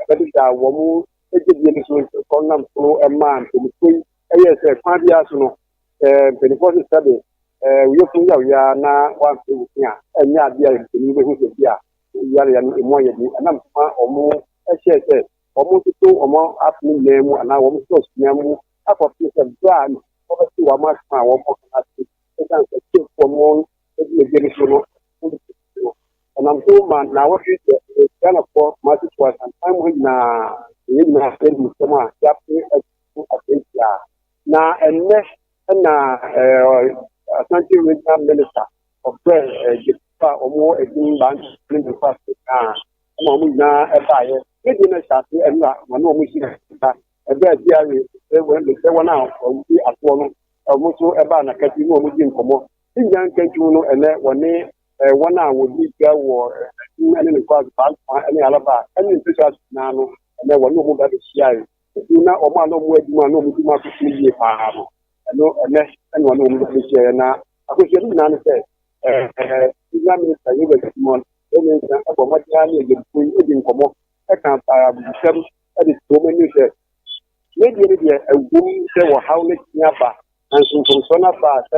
Ɛbɛdeda wɔn gyedie no so nti, ɔnam so maa mpanimfoɔ yi yɛɛ sɛ kwan biara so no, sɛ mpanimfoɔ se sɛbe wo yafunu yaw yi ara na woampere wo se a, ɛnyɛ adeɛ a mpanimfoɔ bɛhu sɛ bi a yareɛ no ɛmu ayɛ den. Ɛnam so ma wɔn hyɛɛ sɛ wɔn toto wɔn apono nyinaa mu anaa wɔn sɔs nyinaa mu akɔpem sɛ berɛ a wɔbɛte wɔn asɛm a wɔbɛka no ase. Ɛsiane sɛ Kyefoɔ no gyedie no so no, Ɔnam so ma nnawɔtwe sɛ ɛyɛ Ghanafoɔ Kumase wɔ Asanteman mu ha nyinaa na yɛn nyinaa yɛn nsɛm a yɛapere agu akwanhyia. Na ɛnnɛ na Asante Regional Minister ɔfrɛ gyefo a wɔwɔ edin Bantu ne ne nkwase a ɛma wɔn nyinaa ɛbaeɛ. Ne deɛ na ɛhyɛ ase ɛnna wɔn a wɔn hyia nsa ɛbɛ a biara sɛ wɔn a wɔn ti asoɔ no wɔn nso ɛbaa n'akati ne wɔn di nkɔmmɔ. Ne nyinaa nkantu no ɛnɛ wɔne eh, wɔn a wɔdi gya wɔ ɛdin ne ne nkwaso baasa ne alaba ne mpɛsɛ ase nyinaa no ɛnɛ wɔne wɔn ba bɛhyiae ɛdin na wɔn a na wɔn adwuma na wɔn adwuma so so yie paa no ɛno ɛnɛ ɛne wɔne wɔn ba bɛhyiae na akɔhyia no nyinaa no sɛ ɛɛ senior minister yɛ wɔ simon ɛne nsa ɛbɔ mmɔden ara ne ɛdɛmfo yi ɛdi nkɔmmɔ ɛka abusɛm ɛde to wɔn ani sɛ ne deɛ ne deɛ ɛwom sɛ wɔhaw ne tia ba nanso mfomsoɔ no aba a sɛ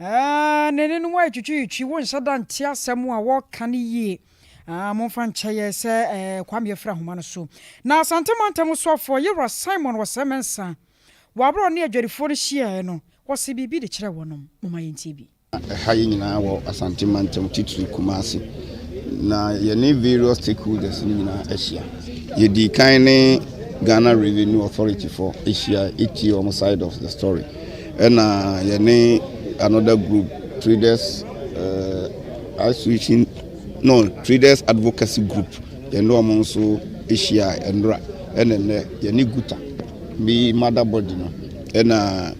Aah na ɛne no ayɛ twitwiitwi wo nhyɛ da nte asɛm a wɔka no yie aah momfa nkyɛ yɛ sɛ eh, Kwame yɛfiri ahoma no so na Asante mantam soafoɔ Yewura Simon Wɔsɛmɛnsa wɔaborɔ ne adwadifoɔ no hyiaeɛ no wɔse biribi de kyerɛ wɔnom momma yɛntie bi. Ɛha yɛ nyinaa wɔ Asante mantam titiri Kumasi na yɛne various stakeholders no nyinaa ahyia. Yɛdii kan ne Ghana Revenue Authority foɔ hyiaeɛ tie wɔn side of the story. Ɛna yɛne another group traders uh, association no traders advocacy group yɛne wɔn nso ahyia ɛnora ɛna nnɛ yɛne guta bi mother body no ɛna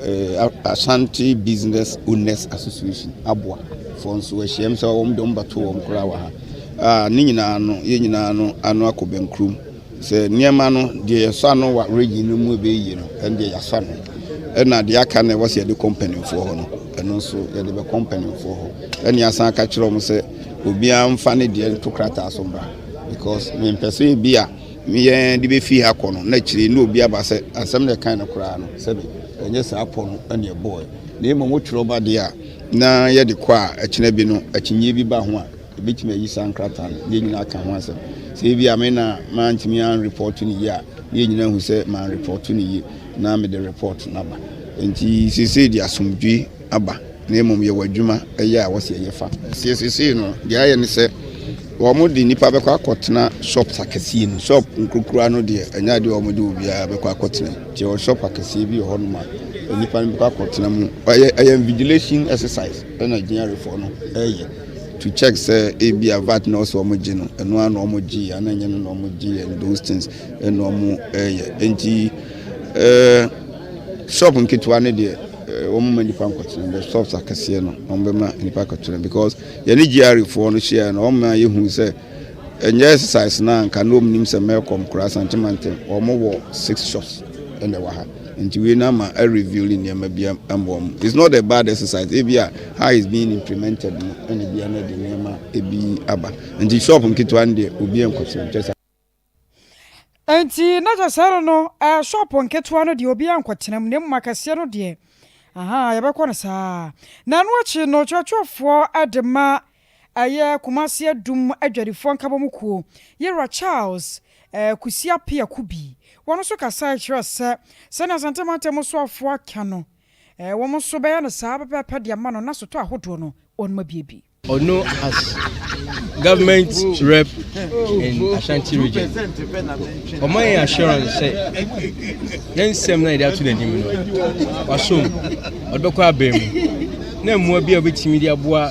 uh, ashanti business owners association aboa fo nso ahyiam sɛ wɔn de wɔn bɛto wɔn koraa wɔ ha uh, ne nyinaa no yɛn nyinaa no ano akɔ bɛnkurom Sɛ nneɛma no, deɛ yɛsɔ ano wɔ region no mu ɛbɛyɛ yie no, ɛno deɛ yɛasɔ ano. Ɛna deɛ aka no ɛwɔ sɛ yɛde kɔ mpanimfoɔ hɔ no, ɛno nso yɛde bɛkɔ mpanimfoɔ hɔ. Ɛne yɛasan aka kyerɛ wɔn sɛ obiara mfa ne deɛ nto krataa so mmra because mempɛ sɛ ebi a meyɛ de bɛfiri ha kɔ no na akyire ne obi aba sɛ asɛm na ɛkae no koraa no sɛbi ɛnyɛ saa pɔ no ɛne ɛbɔɔɛ na mmom wotwerɛ ba deɛ a na yɛde kɔ a ɛkyena bi no akyinnyeɛ bi ba ho a Yɛbɛtumi ayi saa nkrataa no na yɛn nyinaa aka ho asɛm. Sɛ ebi a me na mantumi anrepɔɔto no yie a, na yɛn nyinaa hu sɛ manrepɔɔto no yie na mede repɔɔto no aba. Enti seesei deɛ asomdwoe aba na mmom yɛwɔ adwuma yɛ a wɔsɛ yɛyɛ fa. Seɛ seesei no deɛ ayɛ ne sɛ wɔde nnipa bɛkɔ akɔtena shops akɛseɛ mu. Shop nkurukura no deɛ ɛnyɛ adeɛ a wɔde obiara bɛkɔ akɔtena mu. Nti yɛwɔ shop akɛseɛ bi wɔ hɔnom a nnipa no bɛkɔ akɔtena mu. Ɛyɛ invigilation exercise na Gyinyarefoɔ no reyɛ. to check sɛ ebia vat na ɔsɛ wɔn gye no ɛno ara na wɔn gye ana nyɛ no na wɔn gye and those things ɛna wɔn ɛyɛ nti ɛɛ shop nketewa ne deɛ ɛɛ wɔn ma nipa nkɔtena the shops akɛseɛ no wɔn bɛ ma nipa nkɔtena because yɛne GRA foɔ no hyia no wɔn ma yɛ hu sɛ ɛnyɛ exercise na nka na wɔn nim sɛ mɛkɔm koraa santimantem wɔn wɔ six shops ɛna ɛwɔ ha. Nti wei no ama a reveal nneɛma bi mmoa mu. It's not a bad exercise. Ebi a how is being implemented no ɛna ebi a na ɛde nneɛma ebi aba. Nti shop nketewa no deɛ obi nkɔ so nkyɛ saa. Nti na kyɛ sɛ no no eh, shop nketewa no deɛ obi nkɔtena mu na mmom akɛseɛ no deɛ aha yɛbɛkɔ no saa. Na ɛno akyi no kyerɛkyerɛfoɔ de ma Ɛyɛ Kumasi Adum adwadifoɔ nkabɔmu kuo, Yera Charles, Kusi Apeh Akubi, wɔn nso kasaeɛ kyerɛɛ sɛ sɛdeɛ Asante mantam mu soafoɔ aka no, wɔn nso bɛyɛ no saa pɛpɛɛpɛ de ama no na sotɔɔ ahodoɔ no wɔn abue bi. Ono as government rep in Ashanti region, ɔma yɛn assurance sɛ ne nsɛm no a yɛde ato n'anim no, wasom, ɔde bɛkɔ abɛn mu, na mmoa bi a obetumi de aboa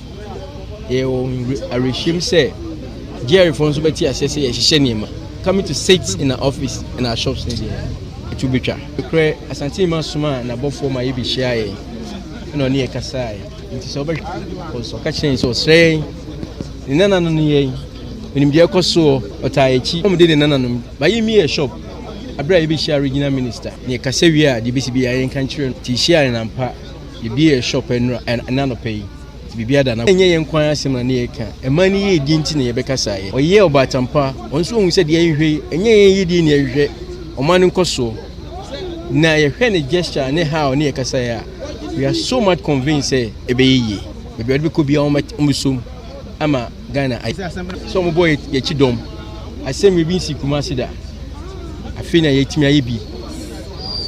Yɛwɔ awerɛhyem sɛ GRAfoɔ nso bɛte aseɛ sɛ yɛhyehyɛ nneɛma. Coming to sit in our office and our shops ne deɛ, ɛtu bɛtwa. Nokorɛ, Asante Nyima somaa n'abɔfoɔ ma yɛbɛhyiaa yɛn, ɛna ɔne yɛn kasaae. Nti sɛ wobɛhwɛ wɔ nso, ɔka kyerɛɛ yɛn sɛ ɔsrɛ yɛn, ne nananom ne yɛn, ɔnim deɛ ɛkɔ soɔ, ɔtaa yɛn akyi. Wɔde ne nananom baeɛ mi yɛɛ shop. Berɛ a yɛbɛhyiaa Regional Minister, na yɛkasa wieeɛ a, deɛ ɛbɛsi biara yɛnka nkyerɛ no. Nti yɛhyiaa yɛn ampa. Yɛbue yɛn shop anura ɛnɛ anɔpa yi nti biribiara da n'akwan. Ɛnyɛ yɛn nko ara asɛm na na yɛreka, ɛmaa ne yiedie nti na yɛbɛka saa yɛ. Ɔyɛɛ ɔbaatan pa, ɔno nso ɔhuu sɛ deɛ yɛhwehwɛ yi, ɛnyɛ yɛn yiedie na yɛhwehwɛ, ɔma no nkɔsoɔ. Na yɛhwɛ ne gesture ne how ne yɛkasaeɛ a, we are so much convinced sɛ ɛbɛyɛ yie. Baabi a ɔde bɛkɔ biara wɔn bɛt wɔn bɛsɔ mu ama Ghana ayɛ. Sɛ wɔbɔ yɛ yɛn akyi dɔm, asɛnnua bi nsii Kumasi da. Afei na yɛatumi ayɛ bi,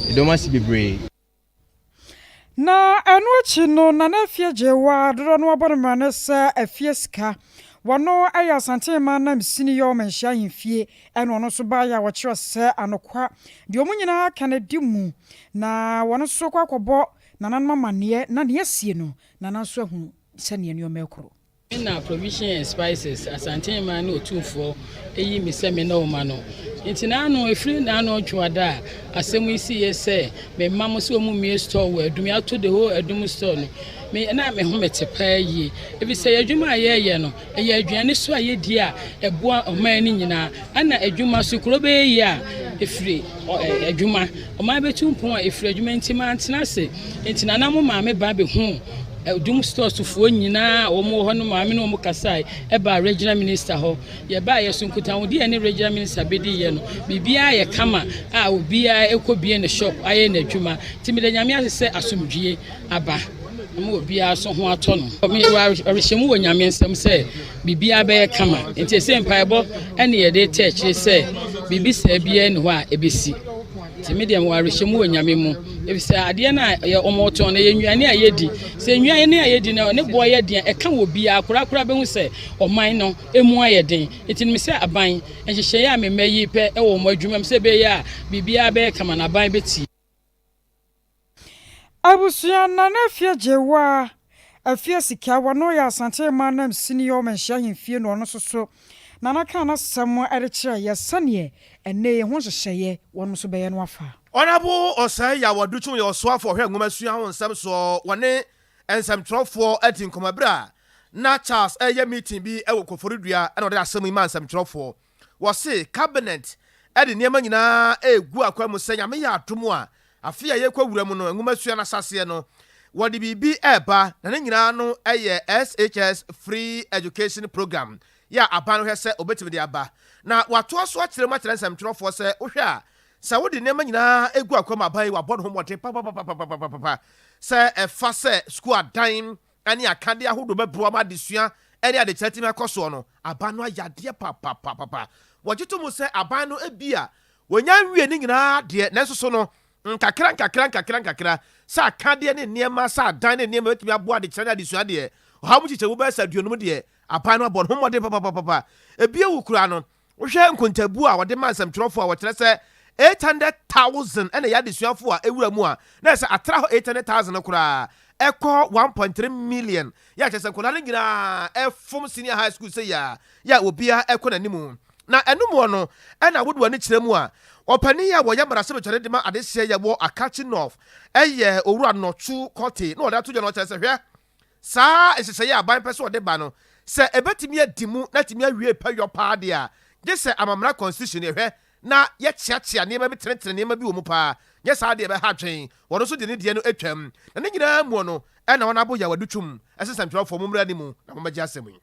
yɛda wɔn ase bebree. Na ɛno akyi no, na n'afie gyee waa dodoɔ no abɔ no mmara ne sɛ afie sika. Wɔno yɛ Asantehene Maanam Sini yɛ ɔmanhyia ahemfie ɛna ɔno nso baeɛ a wɔkyerɛ sɛ anokwa deɛ wɔn nyinaa ka no di mu. Na wɔno nso kɔ akɔbɔ nananom amanneɛ na nea asie no nana nso ahunu sɛdeɛ nneɛma rekɔ. Ɛna Provision and Spices, Asanten man ne Otumfoɔ ayi me sɛ me ne wɔn ma no. Nti naano, ɛfiri nnaano Ɔdwoada a asɛm yi siiɛ sɛ me ma mo sɛ wɔn mmue store wɔ Adum, yɛato the whole Adum store no. Me, na me ho mete paa yie. Ɛfisɛ yɛn adwuma a yɛɛyɛ no, ɛyɛ aduane so a yɛdi a ɛboa ɔman no nyinaa. Ɛna adwuma so, kuro bɛyɛ yie a ɛfiri adwuma. Ɔman bɛtu mpɔn a ɛfiri adwuma. Nti mantena ase. Nti nana mo maame ba bɛhuu. Adum store so foɔ nyinaa a wɔn wɔ hɔ no maa me ne wɔn kasae ɛbaa regional minister hɔ. Yɛbaa yɛ so nkutahodie a ɛne regional minister bɛdi yɛ no, biribiara yɛ kama a obiara ɛkɔ bie ne shop ayɛ n'adwuma. Nti meda Nyame ase sɛ asomdwie aba ama obiara so ho atɔ no. Mewɔ awerɛhyɛmu wɔ Nyame nsam sɛ biribiara bɛyɛ kama. Nti ɛsɛ mpaebɔ ɛne yɛde tɛ akyire sɛ biribi saa biara ni hɔ a ɛbɛsi. Nti me deɛ mewɔ awerɛhyɛmu wɔ Nyame mu, efisɛ adeɛ no a yɛ wɔn tɔn no yɛ nnuane a yɛdi. Sɛ nnuane a yɛdi no ne boɔ yɛ den a, ɛka wɔ biara koraa koraa bɛhu sɛ ɔman no mu ayɛ den. Nti no me sɛ aban, nhyehyɛeɛ a me mma yi pɛ wɔ wɔn adwuma mu sɛ ɛbɛyɛ a biribiara bɛyɛ kama no aban bɛtie. Abusua nna na afie gyewaa, afie sika, wɔno yɛ Asante man nam sini yɛ ɔmanhyia ahemfie na ɔno nso so Nana kaa n'asɛm de kyerɛɛ yɛ sɛdeɛ ɛnnɛ yi ho nhyehyɛeɛ wɔnom nso bɛyɛ no afa. Honourable Osei Yaw Aduchum yɛ ɔsoafoɔ ɔhwɛ nwoma sua ho nsɛm soɔ, wɔne nsɛmtwerɛfoɔ adi nkɔmmɔ berɛ a na Charles reyɛ meeting bi wɔ Koforidua na ɔde asɛm yi maa nsɛmtwerɛfoɔ. Wɔse cabinet de nneɛma nyinaa regu akwan mu sɛ Nyame yɛ adom a, afe a yɛrekɔ awura mu no, nwomasua no asaseɛ no, wɔde biribi reba, na ne nyinaa no yɛ SHS Free Education Program yɛ a aban no hwɛ sɛ ɔbɛtumi de aba. Na wɔatoa so akyerɛ mu akyerɛ nsɛmtwerɛfoɔ sɛ wohwɛ a, sɛ wode nneɛma nyinaa regu akwan mu a, aban yi wɔabɔ ne ho mmɔden papapapapapapapa sɛ ɛfa sɛ sukuu adan ne akadeɛ ahodoɔ bɛboa ma adesua ne adekyerɛ atumi akɔ soɔ no, aban no ayɛ adeɛ papaapapa. Wɔgye to mu sɛ aban no ebia wɔnnya nwie ne nyinaa deɛ, nanso so no, nkakra nkakra nkakra nkakra, sɛ akadeɛ ne nneɛma, sɛ adan ne nneɛma bɛtumi aboa adekyerɛ ne adesua deɛ, ɔha mu nkyekyɛmu bɛyɛ sɛ aduonum deɛ, aban no abɔ ne ho mmɔden papaapapa. Ebia wu koraa no, Wohwɛ nkontabuo a wɔde ma nsɛmtwerɛfoɔ a wɔkyerɛ sɛ 800,000 na ɛyɛ adesuafoɔ a ɛwura mu a, na ɛsɛ sɛ atra hɔ 800,000 no koraa ɛkɔ 1.3 million, yɛ a kyerɛ sɛ nkwadaa no nyinaa fom senior high school sei ara, yɛ a obiara kɔ n'anim. Na ɛno mu no na wode w'ani kyerɛ mu a, ɔpanin a ɔyɛ mmarahyɛbadwa no de ma adehyeɛ yɛ wɔ Akatchi North yɛ Owura Nortsu Kortey na ɔde ato dwa na ɔkyerɛ sɛ, hwɛ, Saa nhyehyɛe a aban pɛ sɛ ɔde ba no, sɛ ebetumi adi mu na atumi awie pɛyɔ paa de a, gye sɛ amammerɛ constitution yɛhwɛ na yɛkyeakyea nneɛma bi tenetene nneɛma bi wɔ mu paa, nyɛ saa de ɛbɛha adwene. Wɔn nso de ne deɛ no atwam. Na ne nyinaa mu no, ɛnna wɔn aboyaw adutwum, ɛsɛ nsɛmtwerɛfoɔ, mommra anim na mommɛgye asɛm yi.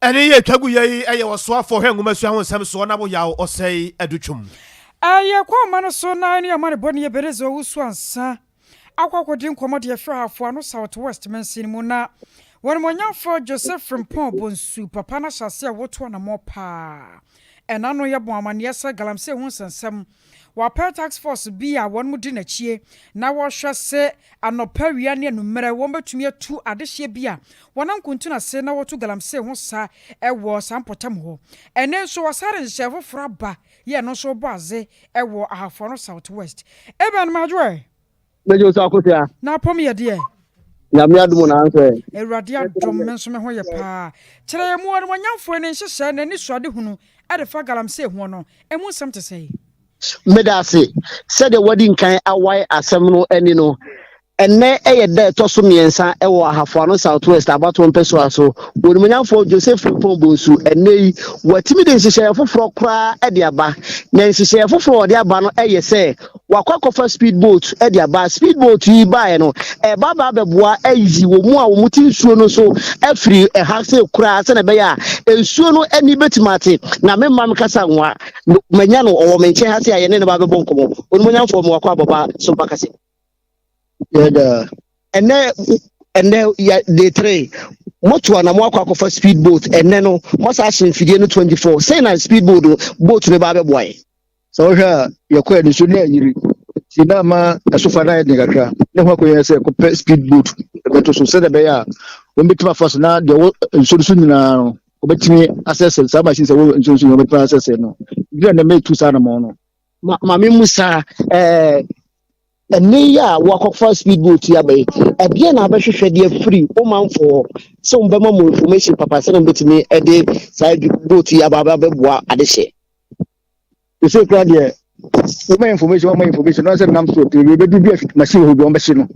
Ɛne yɛ twa gu yɛ yi ɛyɛ ɔsoafoɔ hwɛ nwomasua ho nsɛm soɔ na woyaw ɔsɛe adu twom. Ɛyɛ kɔ ama no so na ɛne amanebɔne Ebenezer Owusu ansa akɔ akɔdi nkɔmmɔ de afiri Ahafo Ano South West mansin mu na W'animuonyamfoɔ Joseph Frimpong Bonsu papa no ahyɛase a wɔretu anammɔn paa ɛna no yɛbɔn amanneɛ sɛ Galamsey ho nsɛnsɛm Wɔapɛr task force bi a hɔn di n'akyie na wɔhwɛ se anɔpa, awia ne anummerɛ wɔbetumi atu adehyeɛ bi a wɔnam kuntu no ase na wɔtu galamsey ho sa wɔ saa mpɔtam hɔ. Ɛnnɛ nso wɔasar nhyehyɛe foforɔ aba yɛ ɛno nso rebɔ adze wɔ Ahafo Ano South West. Ebɛn? Madwoe. Mɛgye wo sɛ akosua. Na apɔm yɛ deɛ. Nyame adom na ansɛ. Awurade adom me nso me ho yɛ paa. Kyerɛ yɛn mu Ɔnimɔnyamfoɔ yi ne nhyehyɛɛ na anisoadehunu de fa galamsey hoɔ no ɛmu nsɛm te sɛn? Meda ase sɛdeɛ woadi nkan awae asɛm no ani no. Ɛnnɛ yɛ da a ɛtɔ so mmiɛnsa wɔ Ahafo Ano South West abatoɔ mpɛsoa so wɔ Onimɔnyamfoɔ Joseph Frimpong Bonsu. Ɛnnɛ yi, watumi de nhyehyɛeɛ foforɔ koraa de aba. Na nhyehyɛeɛ foforɔ a ɔde aba no yɛ sɛ Wakɔ akɔfa speed boat de aba. Speed boat yi baeɛ no, ɛba ba bɛboa ayi wɔn mu a wɔn te nsuo no so afiri ɛha se koraa sɛdeɛ ɛbɛyɛ a nsuo no ani bɛtumi ate. Na me mma me kasa nwa, manya no ɔwɔ me nkyɛn ha se a yɛne ne ba bɛbɔ nkɔmmɔ. Onimonyamfoɔ me wakɔ abɔba so mpa kase. Yɛda. Ɛnɛ ɛnɛ yɛ de tere moto a na mo akɔ akɔfa speed boat ɛnɛ no mo asa ahyɛ mfidie no 24 sɛn na speed boat boat no ba bɛboa yɛ. sɛ wohwɛ a yɛkɔ aniso ne ayiri nti na ama ɛsofa no ayɛ den kakra ne ho akɔyɛ sɛ kɔpɛ speed boat ɛbɛto so sɛdeɛ ɛbɛyɛ a wɔbɛtumi afa so na deɛ wɔ nsuo no so nyinaa no wɔbɛtumi asɛsɛ saa machine sɛ wɔ nsuo no so nyinaa wɔbɛtumi asɛsɛ no ebi na ɛmɛ tu saa anamɔ no ma maame mu saa ɛɛ ɛnne yi a wɔakɔfa speed boat yi abɛyɛ ɛdeɛ na abɛhwehwɛ deɛ firi wo manfoɔ sɛ wɔbɛma mu information papa sɛ na wɔbɛtumi de saa boat yi aba abɛboa adehyɛ ɛsɛ kura deɛ woma information woma information na sɛ nam so bɛdu bi afit machine hɔ bi wɔbɛhye no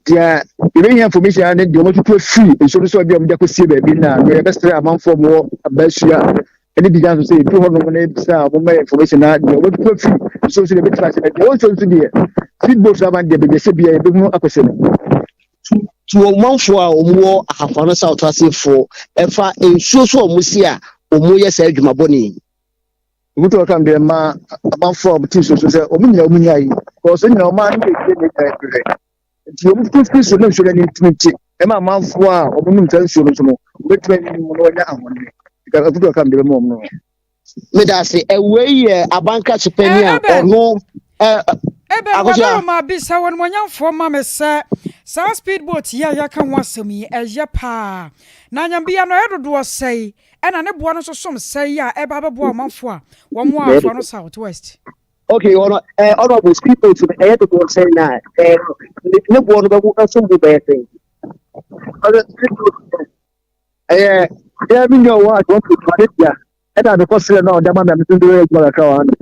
deɛ yɛbɛhia information a ne deɛ wɔatutu afiri nsuo no so a bi a wɔde akɔsie baabi na no yɛbɛsrɛ amanfoɔ mowɔ abaasua ɛne bi gya so sɛ ɛdu hɔ nom ne bisa a wɔma information na deɛ wɔatutu afiri nsuo so deɛ bɛtumi ahyɛ deɛ wɔnsuo nso deɛ feedboat so aban deɛ bɛdeɛ sɛ bia yɛbɛhunu akɔsɛ no to ɔmanfoɔ a wɔwɔ ahafano south asefoɔ ɛfa nsuo so a wɔsi a wɔyɛ saa adwuma bɔne yi Obutu ɔka mbrɛ mma amanfo a wɔte nsuo so sɛ wɔn nyinaa wɔn nyaa yi kɔɔso nyinaa wɔn ano yɛ yie na ɛnya ɛbrɛ nti wɔn tutu firi so na nsuo no ani ntumi nte ɛma amanfo a wɔn nom saa nsuo no nso no wɔbɛtumi ayi mu na wɔanya ahɔnne nka obutu ɔka mbrɛ mu wɔn no. Medase ɛwei yɛ abanka sopani a ɔno ɛbɛ wɔbɛrɛ ma bisa wɔn mo nyamfoɔ ma me sɛ saa speedboat yi a yɛka ho asɛm yi ɛyɛ paa na anyambia no ɛyɛ dodoɔ sɛe Ɛna ne boa no nso som sɛn yi a ɛba abɛboa ɔmanfoɔ a wɔn wɔ Afo Ano South West? Okay, ɔno ɛɛ eh, ɔno ɔbɔ speed boat no ɛyɛ dodoɔ sɛn na ɛɛ eh, ne ne boɔ no bɛbo ɛsom bo bɛyɛ sɛn? Ɔno speed boat no ɛyɛ deɛ mi nyɛ wɔ adwuma pii ma ne bia ɛna mekɔ srɛ no a ɔde ama mi a mi nso de yɛ adwuma kakra wɔ ano.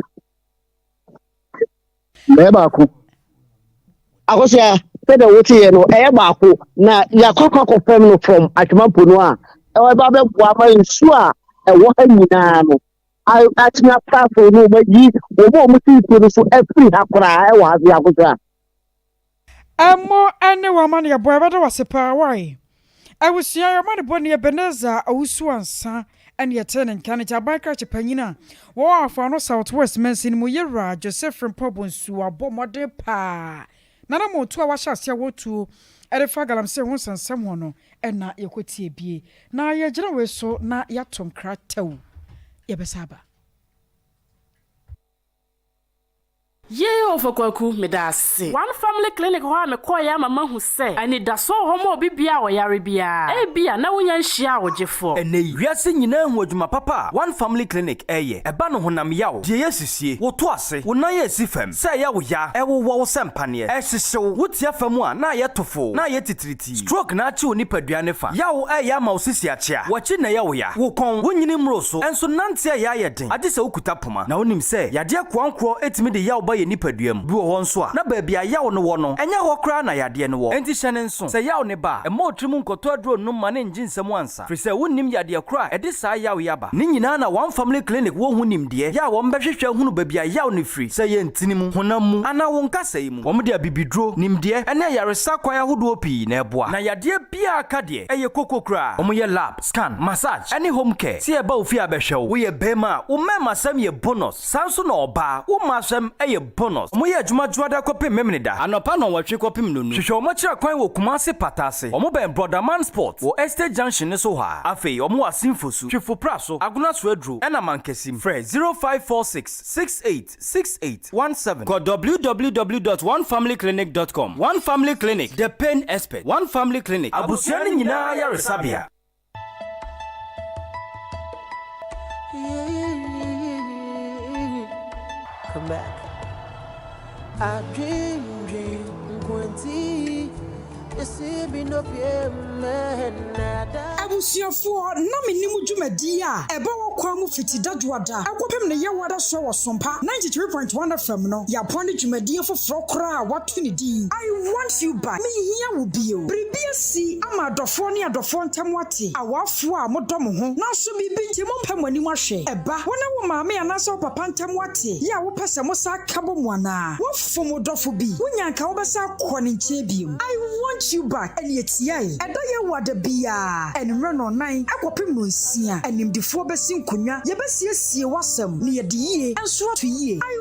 bɛyɛ baako akosua sɛdeɛ woteɛ no ɛyɛ baako na yɛakɔkɔ akɔ fam no fam atwemampo no a ɛwɔ ba bɛboa ma nsuo a ɛwɔ ha nyinaa no atumi asaafo no wɔayi wɔn a wɔte nsuo no so afiri ha koraa ɛwɔ ha se akosua Ɛmɔ ɛne wo amaneɛbɔ ɛbɛda wo ase paa wai abusua yɛ ɔmane bɔne Ebenezer Owusu Ansah ɛne ɛtee ne nka ne Kyaban krakye panyin a wɔwɔ Afaano South West mansini mu Yera Joseph Frimpong Bonsu abɔ mmɔden paa nana mo tuo a wahyɛ aseɛ wɔ tuo ɛde fa galamsey ho nsɛnsɛm ho no ɛna yɛkɔ tie bie na yɛgyina wei so na yɛato nkra tɛw yɛbɛsa aba. Yay Ɔfa Kwaku, meda ase. One Family Clinic hɔ a mekɔeɛ ama mahu sɛ anidasoɔ wɔ hɔ ma obi biara a ɔyare biara. Ebia na wonya nhyiaa ɔgyefoɔ. Ɛnnɛ yi, wiase nyinaa ahu adwuma papa a One Family Clinic reyɛ. Ɛba no honam yaw, deɛ ɛyɛ sisie, wo to ase, wo nan a ɛsi fam, sɛ ɛyɛ wo ya, ɛwowɔ wo sɛ mpaneɛ, ɛhyehye wo, wo te afa mu a na ayɛ tofoo, na ayɛ titiritii. pii. Stroke na akye wo nipadua ne fa. Yaw a ɛyɛ ama wo sisi akyea. W'akyi na ɛyɛ wo ya. Wo kɔn, wo nyini mmoro so. Nso nante a ɛyɛ ayɛ den. Agye sɛ wokuta poma. Na wonim sɛ, yadeɛ nkoankorɔ tumi de yaw ba yɛn nipadua mu. Bi wɔ hɔ nso a, na baabi a yaw no wɔ no, ɛnyɛ hɔ koraa na yadeɛ no wɔ. Enti hyɛ no nso, sɛ yaw no ba a, mma otiri mu nkɔtɔ aduro nnom ma no nnye nsam ansa. kasa, firi sɛ wonnim yadeɛ korɔ a ɛde saa yaw yi aba. Ne nyinaa na wɔn family clinic wɔ ho nimdeɛ, yɛ a wɔn bɛhwehwɛ ahunu baabi a yaw no firi, sɛ ɛyɛ ntini mu, honam mu, anaa wo nkasa yi mu. Wɔn de abibiduro, nimdeɛ, ɛne ayaresa kwan ahodoɔ pii na ɛboa. Na yadeɛ biara ka deɛ ɛyɛ koko koraa, wɔn yɛ lab, scan, massage, ɛne home care, sɛ yɛba wo fie abɛhwɛ wo, wo yɛ barima a, wo mmɛɛma sɛm yɛ bonus. Saa nso na ɔbaa, wo mmaasɛm yɛ bonus. Wɔyɛ adwuma dwoada kɔpem Memeneda. Anɔpa nnɔnwɔtwe kɔpem nnɔnu. Hwehwɛ wɔn akyira kwan wɔ Kumase pata ase. Wɔn bɛn Brɔda Man Sports wɔ Estate Junction no so hɔ ara. Afei wɔn wɔ Asinfo su, Twifo pra so, Agona so aduro ɛna Mankasim. Frɛ 0546 68 6817. Kɔ www dot onefamily clinic dot com. One Family Clinic, the pain expert. One Family Clinic. Abusua no nyinaa ayaresabea. Abusuafoɔ, na me nim dwumadie a ɛba wɔ kwan mu fiti Dadwoada kɔpem ne Yewoada soɔ wɔ Sompa 93.1 FM no. Yaboa ne dwumadie foforɔ koraa a wɔato. to ne din. I want you back, Menhia wo bio. Biribi asi ama adɔfoɔ ne adɔfoɔ ntam ate, awafoɔ a modɔ mo ho nanso biribi nti mompɛ mo anim ahwɛ. Ɛba wo ne wo maame anaasɛ wo papa ntam ate yɛ a wopɛ sɛ mosan aka bɔ mu anaa? Wofom wo dɔfo bi, wonya a anka wobɛsan akɔ ne nkyɛn bio. I want you back, ɛne ɛtiae. Ɛda Yehowa da biara, anwummerɛ nnɔnnan kɔpem nnɔnsia. Animdefoɔ bɛsi nkonnwa, yɛbɛsiesie w'asɛm na yɛde yie nso ato yie. I.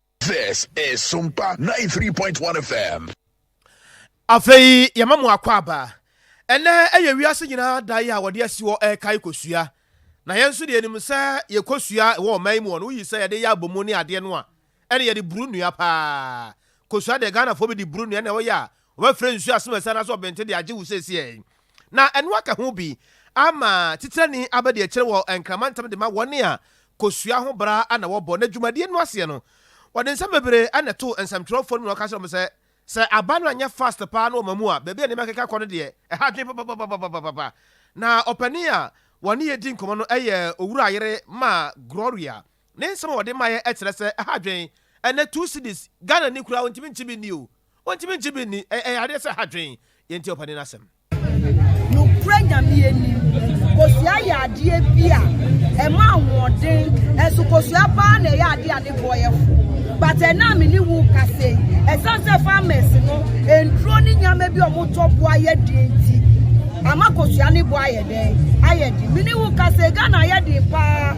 This is Sumpa 93.1 FM. Afei yɛma mo akwaaba. Ɛnnɛ yɛ wiase nyinaa da yi a wɔde asi hɔ ɛrekae kosua. Na yɛn nso deɛ yɛnim sɛ yɛ kosua ɛwɔ ɔman yi mu hɔ no, woyi sɛ yɛde yɛ abomu ne adeɛ no a, ɛne yɛde buru nnua paa. Kosua deɛ Ghanafoɔ bi de buru nnua na ɛwɔ yɛ a Wɔbɛfrɛ nsu asomasira no ase wɔ Benten de agye wo seesei yi, na ɛno aka ho bi ama Titenani aba de akyire wɔ Nkrama ntam de ma wɔn a kosua ho bra na wɔbɔ. Na dwumadie no aseɛ no, wɔde nsɛm bebree na ɛtoo nsɛmtwerɛfoɔ no mu na wɔka kyerɛɛ wɔn sɛ, Sɛ aba no anyɛ fast paa na wɔma mu a, baabi a nneɛma keka kɔ no deɛ, ɛha adwene papapapapapapa. Na ɔpanin a wɔne yɛ redi nkɔmmɔ no yɛ Owura Ayere ma Gloria. Ne nsɛm a wɔde maeɛ ɛkyerɛ sɛ ɛha adwen ɛnɛ two cedis Ghana ni koraa ɔntumi nkye bi nni o ɔntumi nkye bi nni ɛyɛ yareɛ sɛ ɛha adwen yɛn nti ɔpani no asɛm. Nokorɛ Nyame anim, kosua yɛ adeɛ bi a ɛma ahoɔden, nso kosua paa na ɛyɛ adeɛ a ne boɔ yɛ fo. But ɛnnɛ a me ne wo rekasa yi, ɛsiane sɛ farmers no nnuro ne nneɛma bi a wɔtɔ boɔ ayɛ den nti, ama kosua ne boɔ ayɛ den. dɛn ayɛ den me ne wo ka sɛ ghana ayɛ den paa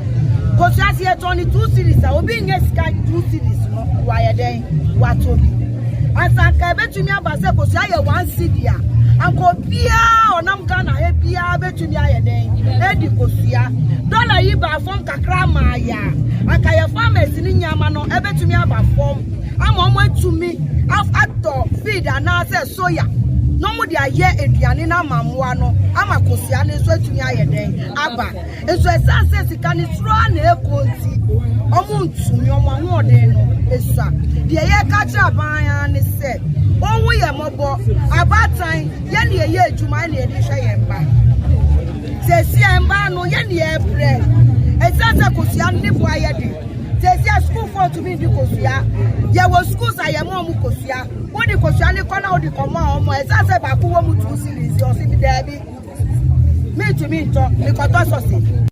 kosua sɛ yɛtɔn ne two series a obi nyɛ sika two series no wayɛ dɛn watɔ bi asanka ɛbɛtumi aba sɛ kosua yɛ one cd a anka obiaa ɔnam ghana ha biaa bɛtumi ayɛ dɛn ɛdi kosua dɔla yi baa fam kakra maa yɛ a anka yɛ farmers ne nneɛma no ɛbɛtumi aba fam ama ɔmo atumi atɔ feed anaasɛ soya na wɔde ayɛ aduane no ama mmoa no ama kosua no nso atumi ayɛ dɛn aba nso ɛsan sɛ sika no soro a na ɛkɔ nti wɔn ntumi wɔn ahoɔden no esua deɛ yɛka kyerɛ aban ara ne sɛ wɔn ho yɛ mmɔbɔ abaatan yɛn na yɛyɛ adwuma yɛn na yɛde hwɛ yɛn mma sɛsi yɛn mma no yɛn na yɛbrɛ ɛsan sɛ kosua no ne bo ayɛ de sɛsi yɛ sukuufoɔ tumi di kosua yɛwɔ sukuus a yɛn mo ɔmo kosua. Wode kosua ne kɔ na wode kɔma wɔn a ɛsɛ sɛ baako wɔ mu two series ɔsi mi daabi mintumi ntɔ mekɔtɔ sɔsi.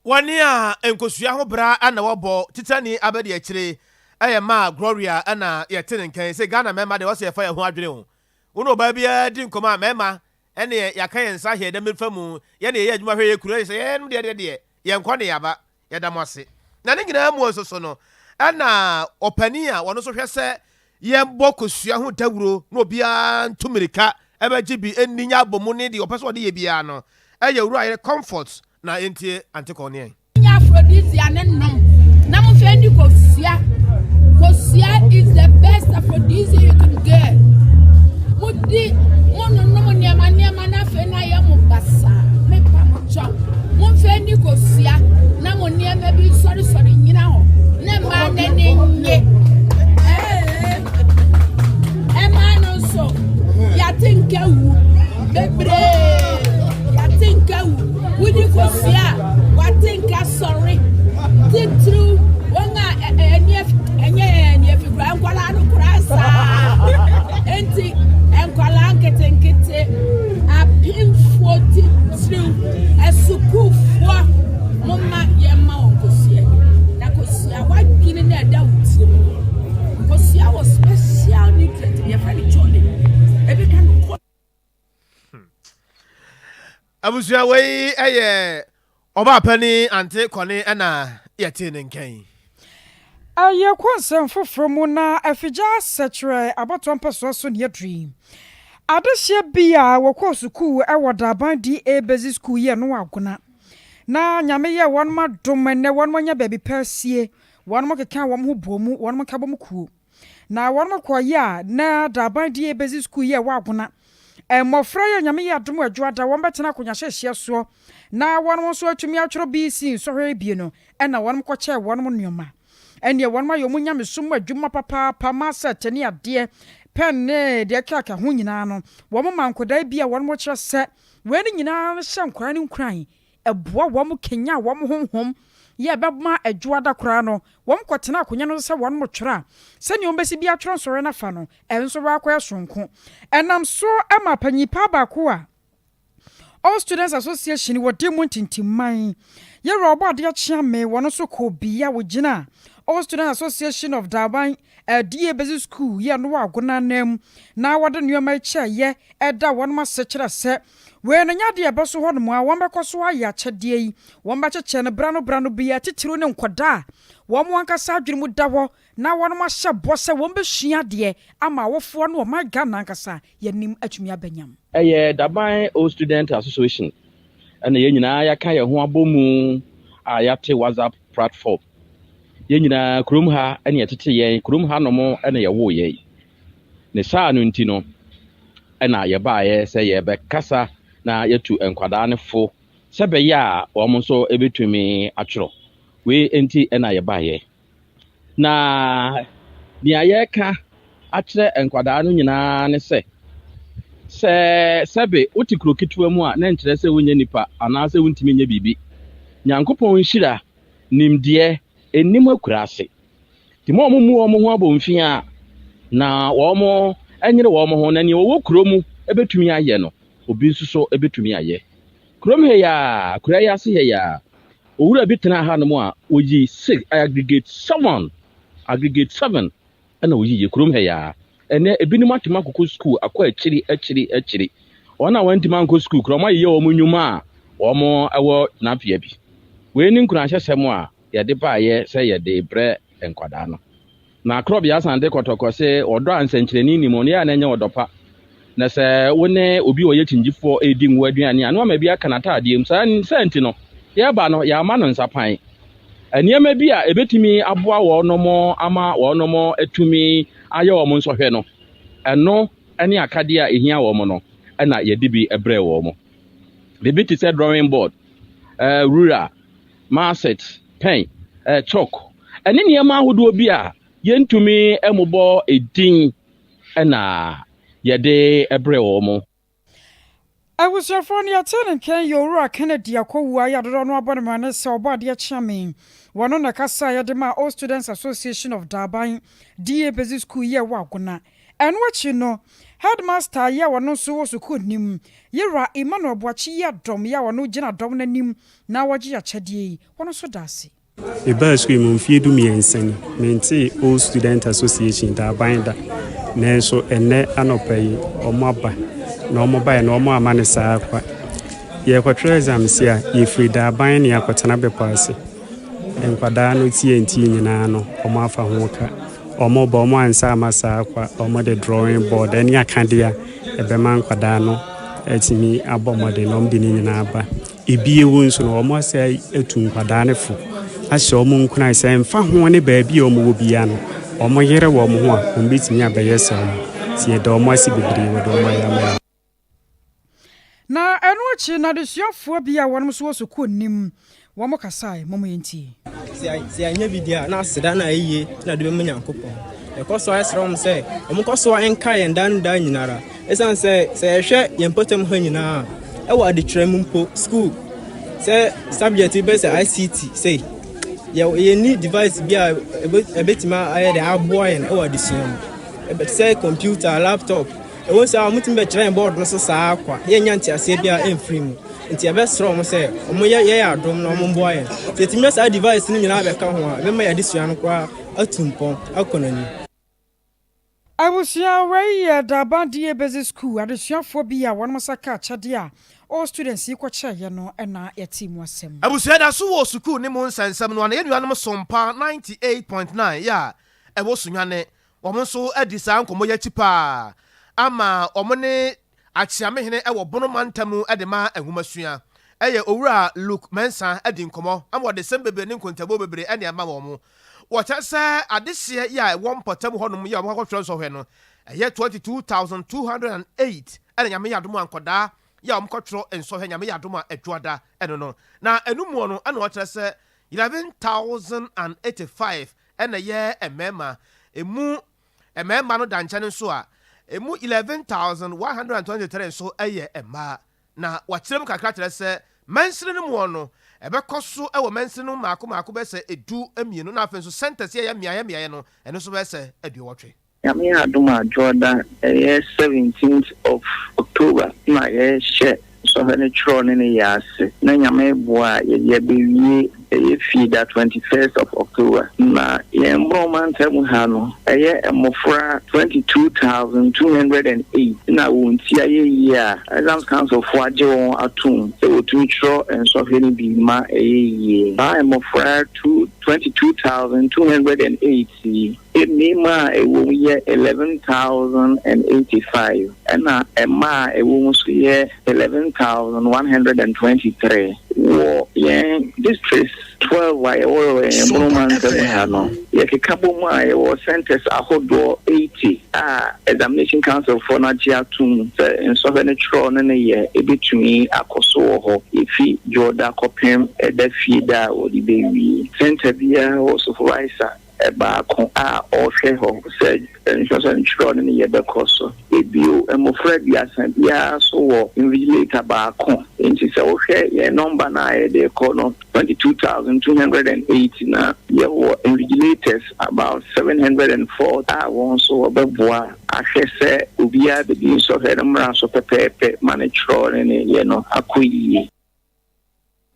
Wɔne a nkosua ho bra na wɔbɔ titani abɛde akyire ɛyɛ ma Gloria ɛna yɛte ne nkɛn sɛ Ghana mɛma deɛ wɔsɛ yɛfa yɛn ho adwene ho wo ne ɔbaa biara di nkɔmɔ a mɛma ɛneɛ yɛaka yɛn nsa hwɛ dɛ mɛfa mu yɛne yɛyɛ adwuma hwɛ yɛ kuro yɛ sɛ yɛnom deɛ deɛ deɛ yɛn kɔ ne yaba Yɛda mo ase. Na ne nyinaa mu nso so no, ɛna ɔpanin a ɔno nso hwɛ sɛ yɛbɔ kosua ho dawuro na obiara ntu mmirika mmɛgye bi nni nyɛ abɔmu ne deɛ ɔpɛ sɛ ɔde yɛ biara no yɛ Owura Ayere Comfort na yɛntie Aunty Cornee. Monyɛ aphrodisia no nnom na monhwɛ ndi kosua. Kosua is the best aphrodisia you can get. Modi, mononom nneɛma nneɛma na afei na ayɛ mo basaa. Mepa mo kyɛw. Momfa ani kosua na mo nneɛma bi nsɔresɔre nnyina hɔ, na mma n'ani nnye. Ɛma no nso, yɛate nka wu bebree, yɛate nka wu, wodi kosua a, wate nka sɔre, titiriw wɔn a ɛnyɛ ɛnyɛ fi koraa, nkwadaa no koraa saa. Enti nkwadaa nketenkete Apemfoɔ titiriw asukuufoɔ, momma yɛmma wɔn kosua. Na kosua, w'adwene na ɛda wo tirim no. Kosua wɔ special nutrient bi yɛfrɛ no choline. Ebi ka no kɔ. Hmm. Abusua wei ɛyɛ Ɔbaa panin ante kɔne na yɛtee ne nkɛn. Awiekɔ nsɛm foforɔ mu na Afigyaa sɛ kyerɛɛ abatoɔ mpɛsoa so nea aduru yi. Adehyeɛ bi a wɔkɔɔ sukuu wɔ Daaban DA Basic School yɛɛ no Agona. Na Nyame yɛɛ wɔnom adom ɛnnɛ wɔnom anya baabi pa asie, wɔnom kekaa wɔn ho bɔɔ mu, wɔnom nkabɔmu kuo. Na wɔnom kɔɔ yɛ a na daaban di yɛ bɛdzi skuul yɛ wɔ Agona. Mbɔfra yi a Nyame yɛ adom edwo ada wɔn bɛtsena akonwa hyɛhyɛ soɔ na wɔnom nso atumi atwerɛ BC nsɔhwɛ ebien no na wɔnom kɔkyɛɛ wɔnom nnoɔma. Ɛnneɛ wɔnom ayɛ wɔn nyamesom mu adwuma papaapa ma sɛɛt ne adeɛ, pɛn ne deɛ ɛkekaaka ho nyinaa no wɔn ma nkwadaa bi a wɔnom kyerɛ sɛ wei no nyinaa hyɛ nkwadaa no nkuran Ɛboa wɔn kanyan wɔn honhom yɛ a ɛbɛma adwo ada koraa no, wɔkɔtena akonnwa no so sɛ wɔretwerɛ a, sɛdeɛ wɔbɛsi bi atwerɛ nsɔhwɛ no afa no, ɛnso wɔakɔyɛ soronko. Ɛnam so ma panin paa baako a All Students Association wɔ de mu ntintimman. Yɛwura Ɔbɔadeɛ Akyeame, wɔn nso kɔɔ bea a wɔgyinaa All Students Association of Daban Ɛdeɛ ɛbɛsi sukuu yɛ no wɔ agona anan mu na wɔde nnoɔma yi kyɛ yɛ ɛda wɔnom ase kyerɛ sɛ wei no nyɛ adeɛ a ɛbɛso hɔ nom a wɔbɛkɔ so ayɛ akyɛdeɛ yi. Wɔbɛkyekyɛ no berɛ ano berɛ ano bɛyɛ atitiriw ne nkwadaa a wɔn ankasa adwene mu da hɔ na wɔnom ahyɛ bɔ sɛ wɔbɛsua adeɛ ama awofoɔ ne ɔman Ghana ankasa yɛnim atumi abɛnyam. Ɛyɛ Daban Old Student Association na yɛn nyinaa yɛaka yɛn ho abɔ mu a yɛate WhatsApp platform. Yɛn nyinaa kurom ha na yɛtete yɛn, kurom ha nom na yɛwoo yɛn. Ne saa no nti no na yɛbaeɛ sɛ yɛbɛkasa na yɛtu nkwadaa no fo sɛ bɛyɛ a wɔn nso bɛtumi atwerɛ. Wei nti na yɛbaeɛ. Na nea yɛreka akyerɛ nkwadaa no nyinaa ne sɛ, sɛ sɛbe wote kuro ketewa mu a, na nkyerɛ sɛ wonyɛ nipa anaasɛ wontumi nyɛ biribi. Nyankopɔn nhyira, nimdeɛ, nnim akuraase. Nti mo a wɔmmu wɔn ho abomfi a, na wɔnyere wɔn ho, na nea ɔwɔ kuro mu bɛtumi ayɛ no, obi nso so bɛtumi ayɛ. Kurom ha yi ara, akuraa yi ase ha yi ara, Owura bi tenaa hanom a oyii six, aggregate seven, aggregate seven na oyii yɛ kurom ha yi ara. Ɛnnɛ ebinom atumi akokɔ sukuu akɔ akyiri akyiri akyiri. Wɔn a wɔantumi ankɔ sukuu koraa wɔayeyɛ wɔn nnwuma a wɔwɔ tenabea bi. Wei ne nkuranhyɛsɛm a yɛde baeɛ sɛ yɛde rebrɛ nkwadaa no. Na Korɔbea san de kɔtɔkɔ se, Ɔdɔ a nsɛnkyerɛnne nni mu no, ɛyɛ na ɛnyɛ ɔdɔ pa. Na sɛ wo ne obi a ɔyɛ kyingyifoɔ redi ngo aduane a, na wama bi aka n'ataadeɛ mu. Saa saa nti no, yɛreba no, yɛamma no nsapan. Nneɛma bi a ɛbɛtumi aboa wɔnom ama wɔnom atumi ayɛ wɔn nsɔhwɛ no, ɛno ne akadeɛ a ɛhia wɔn no, ɛna yɛde bi brɛɛ wɔn. Biribi te sɛ drawing board, eh, rura, Maaset, pɛn, chalk, ne nneɛma ahodoɔ bi a yɛntumi mmobɔ edin na yɛde brɛ wɔn. Abusuafoɔ no, yɛtee no nkaeɛ yɛ Owura Kennedy akɔwuo a yɛadodɔ no abɔ no mmara ne sɛ ɔbɔ adeɛ kye amee. Wɔ no na ɛkasa a yɛde maa Old Students Association of Daban, DA, Basic School yɛɛ wɔ Agona. Ɛno akyi no, Headmaster yɛ a ɔno nso wɔ sukuu no mu, Yera Emmanuel Boakye Yiadom yɛ a ɔno gyina dɔm no anim Na wɔgye akyɛdeɛ yi, wɔn nso da ase. Mebaa sukuu yi mu mfeɛ du mmiɛnsa ni. Mentee Old Student Association, Daaban, da. Nanso ɛnnɛ anɔpa yi, wɔaba. Na wɔbaeɛ no, wɔamma no saa kwa. Yɛrekɔtwerɛ exams a, yɛfiri Daaban na yɛakɔtena Bepɔ Ase. Nkwadaa no TNT nyinaa no, wɔafa ho ka. Wɔba, wɔansa amma saa kwa. Wɔde drawing board ne akadeɛ a ɛbɛma nkwadaa no atumi abɔ mmɔden no, wɔde ne nyinaa ba. Bio nso no, wɔasɛe atu nkwadaa no fo, ahyɛ wɔn nkuran sɛ ɛmfa ho ne baabi a wɔwɔ biara no, wɔyere wɔn ho a, wɔbɛtumi abɛyɛ sɛ wɔn. Nti yɛda wɔn ase bebree wɔ deɛ wɔayɛ ama yɛn. Na ɛno akyi no, adesuafoɔ bi a wɔnom nso wɔ sukuu no mu, wɔn kasaeɛ. Mom yɛntie. Sɛ yɛanyɛ bi deɛ a, na aseda na ayie na yɛde bɛma Nyankopɔn. Yɛkɔ so ara srɛ wɔn sɛ wɔnkɔ so ara nkae yɛn daa ne daa nyina ara. Esiane sɛ sɛ yɛhwɛ yɛn mpɔtam ha nyinaa a, wɔ adekyerɛ mu mpo, sukuu, sɛ subject bi bɛyɛ sɛ ICT sei, yɛ yɛnni device bi a ɛbɛtumi ayɛ de aboa yɛn wɔ adesua mu. Ɛbɛte sɛ computer, laptop, ɛwɔ sɛ a wɔtumi bɛkyerɛ yɛn board no so saa kwa, yɛnnya nteaseɛ bi a ɛmfiri mu. Nti yɛbɛsrɛ wɔn sɛ wɔn yɛ yɛ adom na wɔn mboa yɛn. Sɛ yɛtumi nya saa device no nyinaa bɛka ho a, ɛbɛma yɛn adesua no koraa atu mpɔn akɔ n'anim. Abusua wei yɛ Durban DA Basic School adesuafoɔ bi a wɔnom nsa kaa akyɛdeɛ a all students yi kɔkyɛɛeɛ no na yɛtee mu asɛm. Abusua yɛda so wɔ sukuu ne mu nsɛnsɛm no a na yɛn nuanom som pa ninety eight point nine yɛ a ɛwɔ Sunyani, wɔn nso adi saa nkɔmmɔ yi akyi paa ama wɔne Akyeamehene wɔ Bono mantam mu de ma nhomasua. Ɛyɛ Owura Luke Mensah di nkɔmmɔ ama ɔdesɛm bebree ne nkontabuo bebree ɛne ɛma wɔn. Wɔkyerɛ sɛ adehyeɛ yi a ɛwɔ mpɔtam hɔnom yi a wɔbɛkɔtwerɛ nsɔhwɛ no, ɛyɛ 22208 ɛna Nyame yɛ adom a nkɔdaa yi a wɔkɔtwerɛ nsɔhwɛ Nyame yɛ adom a Adwoada ɛno no. Na ɛno muɔ no ɛna wɔkyerɛ sɛ 11085 ɛna ɛyɛ mmarima, ɛmu Mmarima no da nkyɛn nso a, emu 11,123 nso yɛ mmaa. Na wɔakyerɛ mu kakra kyerɛ sɛ mansini no mu no, ɛbɛkɔ so wɔ mansini no mmaako mmaako bɛyɛ sɛ du mmienu na afei nso centres yi a ɛyɛ mmeaeɛ mmeaeɛ no, ɛno nso bɛyɛ sɛ aduowɔtwe. Nyame adom a Dwoɔda, ɛyɛ 17th of October na yɛhyɛ. Sɔhwɛ no kyerɛw ne ne yɛ ase na Nyame boa a yɛde abewie ɛyɛ fi da twenty first of October na yɛn Mmorɔn mantam ha no ɛyɛ mmofra twenty two thousand two hundred and eight na wɔn ti ayɛ yie a Exams Council foɔ agye wɔn atom sɛ wɔtumi twerɛ nsɔhwɛ no bi ma ɛyɛ yie. Saa mmofra two twenty two thousand two hundred and eight yi. Mmarima a ɛwɔ mu yɛ eleven thousand and eighty five, ɛnna mmaa a ɛwɔ mu nso yɛ eleven thousand one hundred and twenty three. Wɔ yɛn districts twelve a yɛwɔ wɔ yɛn Bono mantam mu ha no, yɛkeka bɔ mu a, yɛwɔ centres ahodoɔ eighty a Examination Councilfoɔ no agye atom sɛ nsɔhwɛ ne twerɛ ne ne yɛ bɛtumi akɔ so wɔ hɔ, ɛfiri Dwoɔda kɔpem Ɛda fie da a wɔde bɛwie. Centre biara wɔ supervisor baako a ɔhwɛ hɔ sɛ nsɛmnsɛm nkyerɛw no ne yɛ bɛkɔ so. Bio, mmofra aduasa biara nso wɔ invigilator baako. Enti sɛ wohwɛ yɛn nɔmba no a yɛde rekɔ no, 22,208, na yɛwɔ invigilators about 704 a wɔn nso wɔbɛboa ahwɛ sɛ obiara bedi nsɔhwɛ no mmara so pɛpɛɛpɛ ma ne kyerɛw ne ne yɛ no akɔ yiye.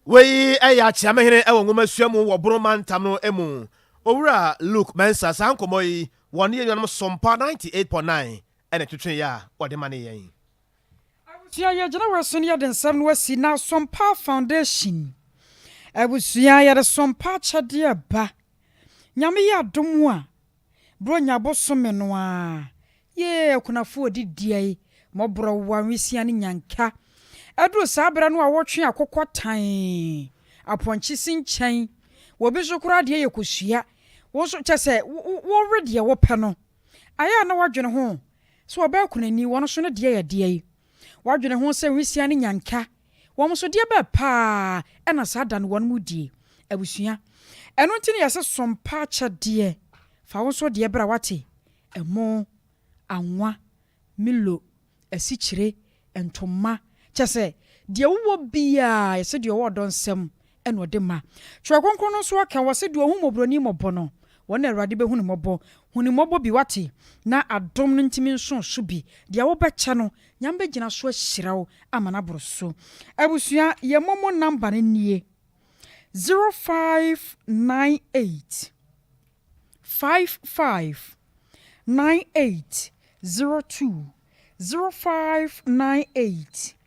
Wei yɛ akyea me hene wɔ nwomasua mu wɔ Bono mantam no mu. Owura Luke Mensah, saa nkɔmmɔ yi, wɔne yɛn nuanom Sompa 98.9 na ɛtwetwee a wɔde manee yɛn. Abusua yɛgyina wɔ ɛso no yɛde nsɛm no asi na Sompa Foundation abusua yɛde Sompa akyɛdeɛ ba. Nyame yɛ adom a Buronya bosome no ara, yee akunafo a wɔdi dua yi, mmɔborɔwa, nwisiaa ne nyanka. Ɛduru saa bere no a wɔtwe akokɔ tan, apɔnkye si nkyɛn, wɔ bi so koraa deɛ yɛ kosua. Wo nso, kyɛ sɛ wowe deɛ wopɛ no. Ayɛ a na woadwene ho sɛ ɔbaa kunani, wɔn nso ne deɛ yɛ deɛn? Woadwene ho sɛ nwisiaa ne nyanka Wɔn nso deɛ bɛɛ paa na saa da no wɔn mo die, abusua. Ɛno nti na yɛse som pa akyɛdeɛ, fa wo nso deɛ bra wate, ɛmo, anwa, milo, asikyire, ntoma, kyɛsɛ deɛ wowɔ biaa yɛse deɛ ɔwɔ ɔdɔ nsam na ɔde ma. Twerɛ Kronkron no nso aka, wɔse, Deɛ ɔhu mmɔborɔni mmɔbɔ no, ɔno na Awurade bɛhu no mmɔbɔ. Hu no mmɔbɔ bi, woate, na adom no ntumi nso wo so bi. Deɛ wobɛkyɛ no, Nyame bɛgyina so ahyira wo ama no aboro so. Abusua, yɛn momo number no nie, zero five nine eight five five nine eight zero two, zero five nine eight.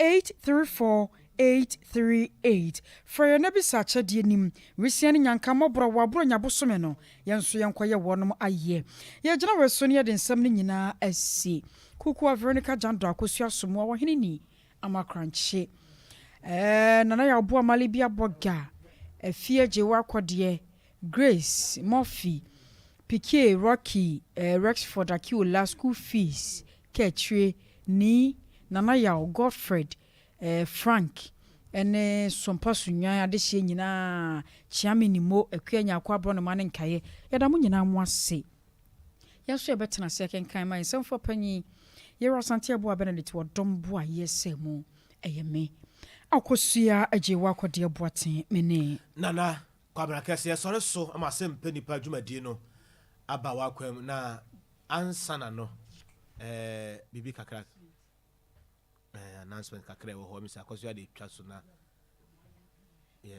Eight three four eight three eight Frɛ yɛn na bisa akyɛdeɛ nim Wesea ne nyanka mmɔborɔ Wɔ aborɔ nya bosome no Yɛn nso yɛnkɔyɛ wɔnom ayeɛ Yɛgyina wɔ so ne yɛde nsɛm no nyinaa asi Kukuwa Veronica Jando Akosua Asomuwa Wɔ hene ni Ama krankye eh Nana Yawboa Malibi Abɔga Afie agye wo akɔ deɛ Grace Murphy Pikie Rocky eh Rexford Akiola School fees Kaakyire ni Nana Yaw, Godfred, Frank ne Sompa Sunnwan adehyeɛ nyinaa, Kyeame Nimmo, Akua Nyarko aborɔnoma ne nkaeɛ. Yɛda mo nyinaa mo ase. Yɛn nso yɛbɛtena ase akenkan ma yɛn nsɛmfoɔ panin, Yero Asante Abuah Benedict wɔ dɔm boayɛ sɛ mu. Ɛyɛ me, Akosua Agyeewaa Kɔdeɛ Boateng, me ne. Nana Kwabena Kɛseɛ sɔre so ma asɛmpa nipa dwumadie no aba w'akwan mu na Ansana no ɛɛ biribi kakra ɛɛ announcement kakra ɛwɔ hɔ mesi akɔso ade twa so na yɛ.